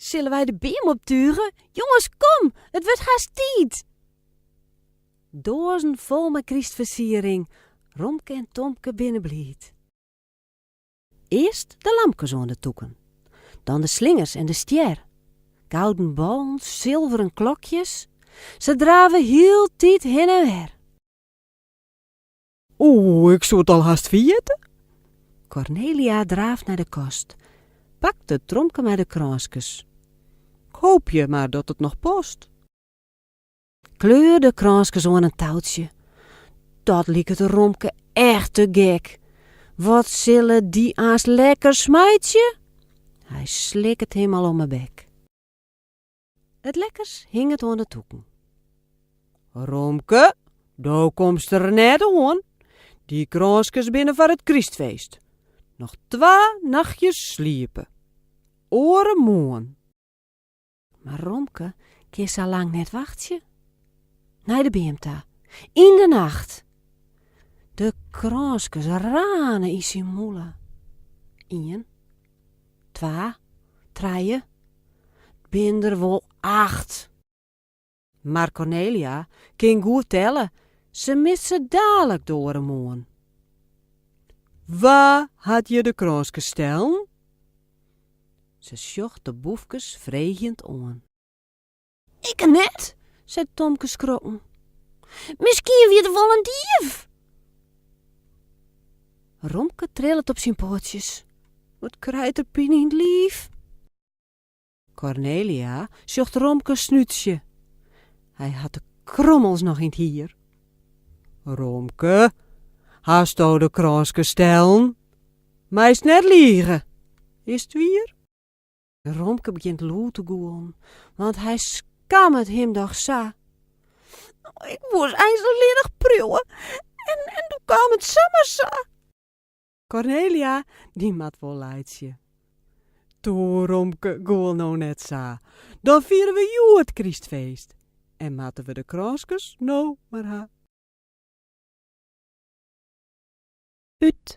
Sille wy de beam optuge? Jonges, kom! It wurdt hast tiid! Doazen fol mei krystfersiering, Romke en Tomke binne bliid. Earst de lampkes oan de tûken, dan de slingers en de stjer, gouden ballen, silveren klokjes, se drave hieltyd hin en wer. Oeh, ik soe it al hast ferjitte. Kornelia draaft nei de kast, pakt it tromke mei de krânskes. Ik hoopje mar dat it noch past. Kleurde krânskes oan in toutsje. Dat liket Romke echt te gek. Wat sille dy aanst lekker smeitsje? Hy sliket him al om 'e bek. It lekkers hinget oan de tûken. Romke, do komst der net oan. Dy krânskes binne foar it krystfeest. Noch twa nachtsjes sliepe. Oaremoarn. Mar Romke kin sa lang net wachtsje. Nei de beam ta, yn de nacht. De krânskes rane yn syn mûle. Ien. Twa, trije, 't binne der wol acht! Mar Kornelia kin goed telle, se mist se dalik de oare moarn. Wa hat hjir de krânskes stellen? Se sjocht de boefkes freegjend oan. Ikke net, seit Tomke skrokken. Miskien wie der wol in dief? Romke trillet op syn poatsjes. Wat krijt er pine yn it liif. Kornelia sjocht Romkes snútsje. Hy hat de krommels noch yn it hier. Romke, hasto de krânskes stellen? Meist net lige, is it wier? Romke begjint lûd te gûlen, want hy skammet him doch sa. Ik woe eins allinnich priuwe, en doe kaam it samar sa. Kornelia, dy moat wol laitsje. Toe, Romke, gûl no net sa. Dan fiere we hjoed krystfeest en moatte we de krânskes no mar ha. Ut.